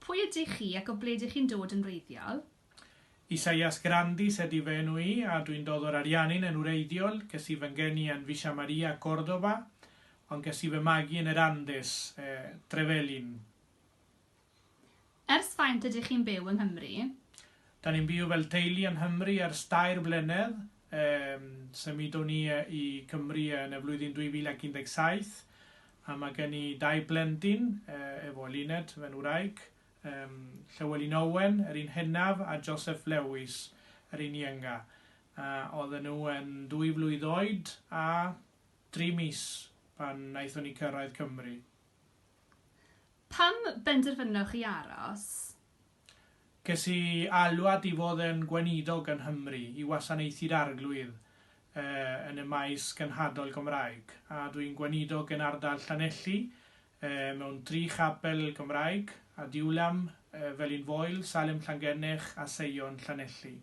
Pwy ydych chi ac o ble dych chi'n dod yn wreiddiol? Isaias Grandis ydy fy enw i a dwi'n dod o'r Ariannin yn wreiddiol, ges i fy ngeni yn Villa Maria, Córdoba, ond ges i fy magu yn yr Andes, Trevelin. Ers faint ydych chi'n byw yng Nghymru? Da ni'n byw fel teulu yng Nghymru ers dair blynedd. Symudon ni i Cymru yn y flwyddyn 2017 a mae gen i dau blentyn efo Luned, fy ngwraig, Llywelyn Owen, yr un hynaf, a Joseph Lewis, yr un ienga. Oedden nhw yn dwy flwydd oed a dri mis pan wnaethon ni cyrraedd Cymru. Pam benderfynoch chi aros? Ges i alwad i fod yn Gweinidog yng Nghymru i wasanaethu'r Arglwydd yn y maes genhadol Gymraeg, a dw i'n Gweinidog yn ardal Llanelli mewn tri chapel Gymraeg, Adiwllam, Felin Foel, Salem Llangennech a Seion Llanelli.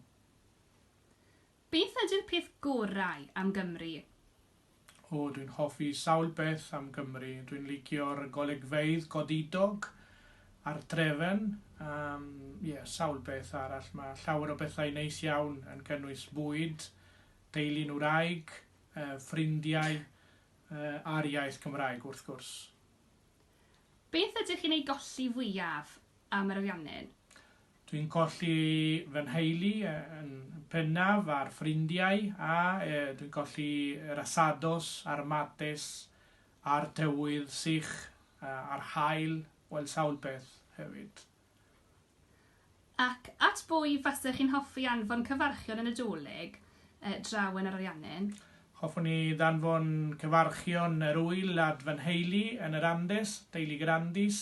Beth ydy'r peth gorau am Gymru? O, dwi'n hoffi sawl peth am Gymru. Dwi'n licio'r golygfeydd godidog a'r trefen. Yym, ie, sawl peth arall. Mae llawer o bethau neis iawn yn cynnwys bwyd, teulu'n wraig, yy ffrindiau, yy a'r iaith Gymraeg, wrth gwrs. Beth ydych chi'n ei golli fwyaf am yr ariannin? Dwi'n colli fy nheulu yn bennaf a'r ffrindiau a dwi'n colli yr asados a'r mates a'r tywydd sych a'r haul, wel sawl peth hefyd. Ac at bwy fasech chi'n hoffi anfon cyfarchion yn y Dolig draw yn yr Ariannin? Hoffwn i ddanfon cyfarchion yr ŵyl at fy nheulu yn yr Andes, teulu Grandis,